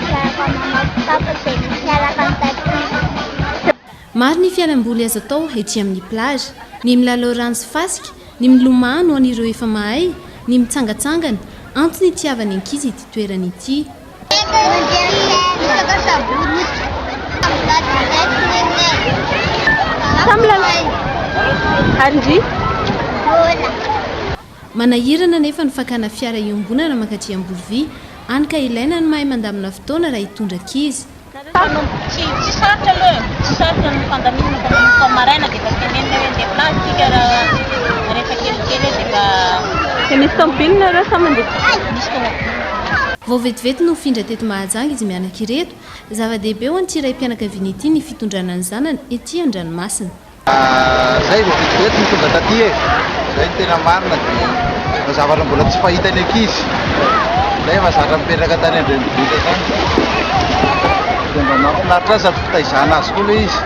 Miarahaba maman sy papa zay misy miaraka ny tatitry. Maro ny fialamboly azo atao ety amin'ny plage, ny milalao rano sy fasika, ny milomano ho an'ireo efa mahay, ny mitsangatsangana, antony itiavan'ny ankizy ity toerana ity. Samy milalao. Ary ndry? Manahirana anefa ny fakana fiara iombonana mankatỳ Ambolovy, any ka ilaina ny mahay mandamina fotoana raha hitondra ankizy. Mpanompo tsy tsy sarotra aloha e, tsy sarotra ny fandaminana fa manomboka ny maraina dia efa tenenina hoe ndeha plage isika raha rehefa kelikely eo dia mba. Dia misy tômôbily nareo sa mandeha bisikleta? Misy tômôbily. Vao vetivety no findra teto Mahajanga izy mianaka ireto. Zava-dehibe ho an'ity raim-pianakaviana ity ny fitondrana ny zanany etỳ an-dranomasina. Zay vao vetivety no tonga taty e! Zay no tena marina dia zavatra mbola tsy fahitan'ny ankizy zay efa zatra mipetraka tany an-drenivohitra tany dia mba mahafinaritra azy sady fitaizana azy koa ilay izy.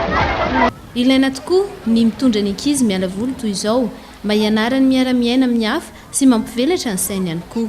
Ilaina tokoa ny mitondra ny ankizy miala voly toy izao mba hianarany miara-miaina amin'ny hafa sy mampivelatra ny sainy ihany koa.